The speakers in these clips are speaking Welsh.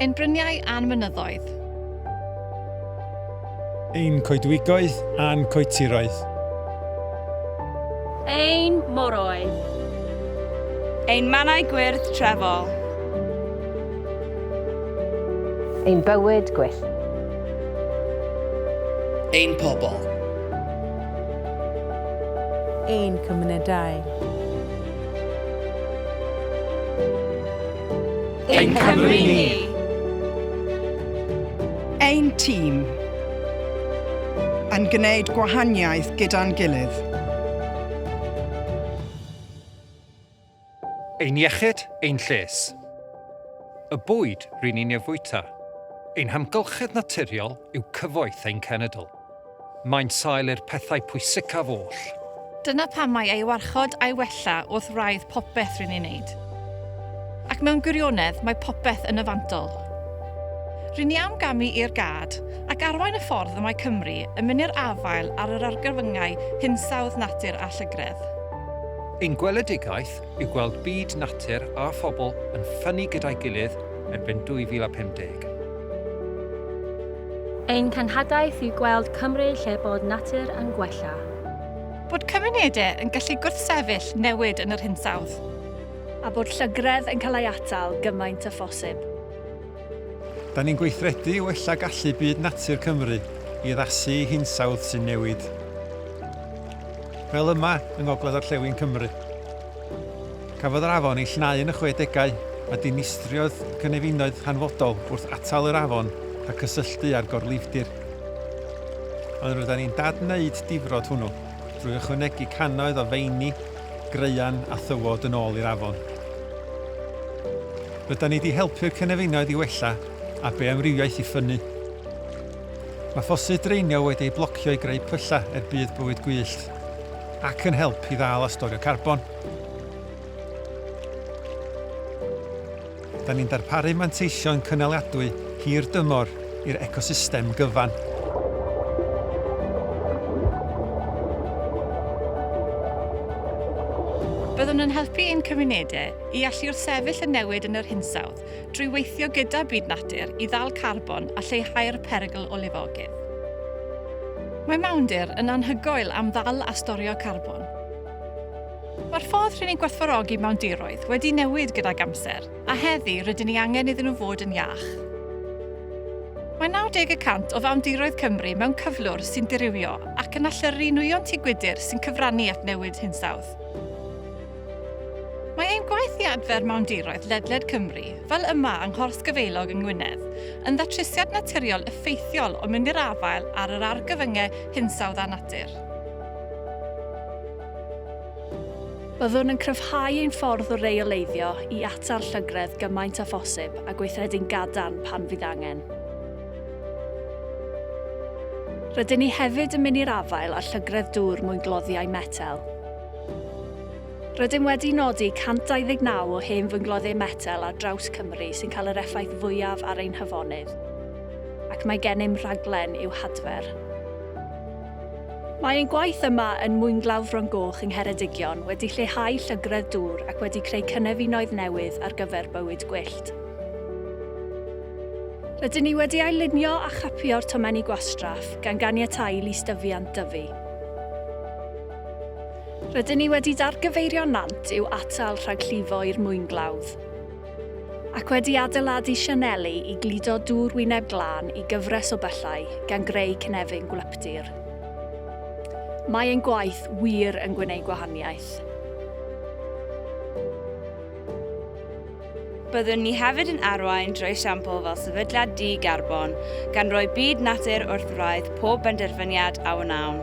Ein bryniau a'n mynyddoedd. Ein coedwigoedd a'n coetiroedd. Ein moroedd. Ein mannau gwyrdd trefol. Ein bywyd gwyllt. Ein pobl. ein cymunedau. Ein Cymru ni! Ein tîm yn gwneud gwahaniaeth gyda'n gilydd. Ein iechyd, ein lles. Y bwyd ry'n ni'n ei fwyta. Ein hamgylchedd naturiol yw cyfoeth ein cenedl. Mae'n sail i'r pethau pwysicaf oll. Dyna pam mae ei warchod a'i wella wrth wraidd popeth ry'n ni'n wneud. Ac mewn gwirionedd, mae popeth yn y fantol. Ry'n ni am gamu i'r gad, ac arwain y ffordd y mae Cymru yn mynd i'r afael ar yr argyfyngau hinsawdd natur a llygredd. Ein gweledigaeth yw gweld byd natur a phobl yn ffynnu gyda'i gilydd erbyn 2050. Ein cenhadaeth yw gweld Cymru lle bod natur yn gwella. Bod cymunedau yn gallu gwrthsefyll newid yn yr hinsawdd. A bod llygredd yn cael ei atal gymaint â phosib. Da ni'n gweithredu i wella gallu byd natur Cymru i addasu i hinsawdd sy'n newid. fel yma yng ngogledd-orllewin Cymru. Cafodd yr afon ei llenau yn y chwedegau a dinistriodd cynefinoedd hanfodol wrth atal yr afon rhag cysylltu â'r gorlifdir. Ond rydyn ni'n dad-wneud difrod hwnnw drwy ychwanegu cannoedd o feini, graean a thywod yn ôl i'r afon. Rydyn ni 'di helpu'r cynefinoedd i wella a beamrywiaeth i ffynnu. Mae ffosydd draenio wedi eu blocio i greu pyllau er budd bywyd gwyllt ac yn help i ddal a storio carbon. Da ni'n darparu manteision cynaliadwy hir dymor i'r ecosystem gyfan. Byddwn yn helpu ein cymunedau i allu wrthsefyll y newid yn yr hinsawdd. drwy weithio gyda byd natur i ddal carbon a lleihau'r perygl o lifogydd. Mae mawndir yn anhygoel am ddal a storio carbon. Mae'r ffordd rŷn ni'n gwerthfawrogi mawndiroedd wedi newid gydag amser, a heddi rydyn ni angen iddyn nhw fod yn iach. Mae 90 y cant o fawndiroedd Cymru mewn cyflwr sy'n dirywio ac yn allyrru nwyon tŷ gwydr sy'n cyfrannu at newid hinsawdd. Mae ein gwaith i adfer mawndiroedd ledled Cymru, fel yma yng Nghors Gyfeilog yng Ngwynedd, yn ddatrysiad naturiol effeithiol o mynd i'r afael ar yr argyfyngau hinsawdd a natur. Byddwn yn cryfhau ein ffordd o reoleiddio i atal llygredd gymaint â phosib a gweithredu'n gadarn pan fydd angen. Rydyn ni hefyd yn mynd i'r afael â llygredd dŵr mwyngloddiau metel. Rydym wedi nodi 129 o hen fyngloddiau metel ar draws Cymru sy'n cael yr effaith fwyaf ar ein hafonydd, ac mae gennym rhaglen i'w hadfer. Mae ein gwaith yma yn Mwynglawdd Fron Goch yng Ngheredigion wedi lleihau llygredd dŵr ac wedi creu cynefinoedd newydd ar gyfer bywyd gwyllt. Rydyn ni wedi ail-lunio a chapio'r tomenni gwastraff, gan ganiatáu i lystyfiant dyfu. Rydyn ni wedi dargyfeirio nant i'w atal rhag llifo i'r mwynglawdd, ac wedi adeiladu sianeli i gludo dŵr wyneb glân i gyfres o byllau, gan greu cynefin gwlyptir. Mae ein gwaith wir yn gwneud gwahaniaeth. Byddwn ni hefyd yn arwain drwy esiampl fel sefydliad di-garbon, gan roi byd natur wrth wraidd pob benderfyniad a wnawn.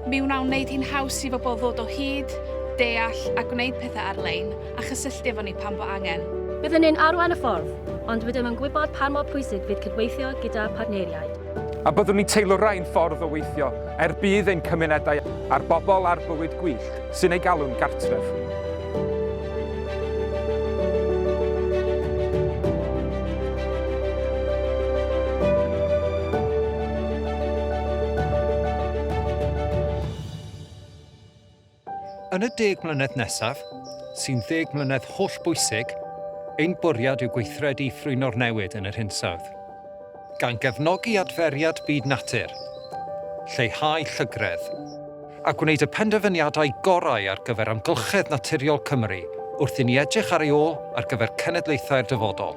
Mi wnawn wneud hi'n haws i bobl ddod o hyd, deall a gwneud pethau ar-lein, a chysylltu efo ni pan fo angen. Byddwn ni'n arwain y ffordd, ond rydym yn gwybod pan mor pwysig fydd cydweithio gyda phartneriaid. A byddwn ni'n teilwrau'n ffordd o weithio er budd ein cymunedau a'r bobl a'r bywyd gwyllt. Sy'n ei galw'n gartref. Yn y deg mlynedd nesaf, sy'n ddeg mlynedd hollbwysig, ein bwriad yw gweithredu i ffrwyno'r newid yn yr hinsawdd. Gan gefnogi adferiad byd natur, lleihau llygredd. A gwneud y penderfyniadau gorau ar gyfer amgylchedd naturiol Cymru wrth i ni edrych ar ei ôl ar gyfer cenedlaethau'r dyfodol.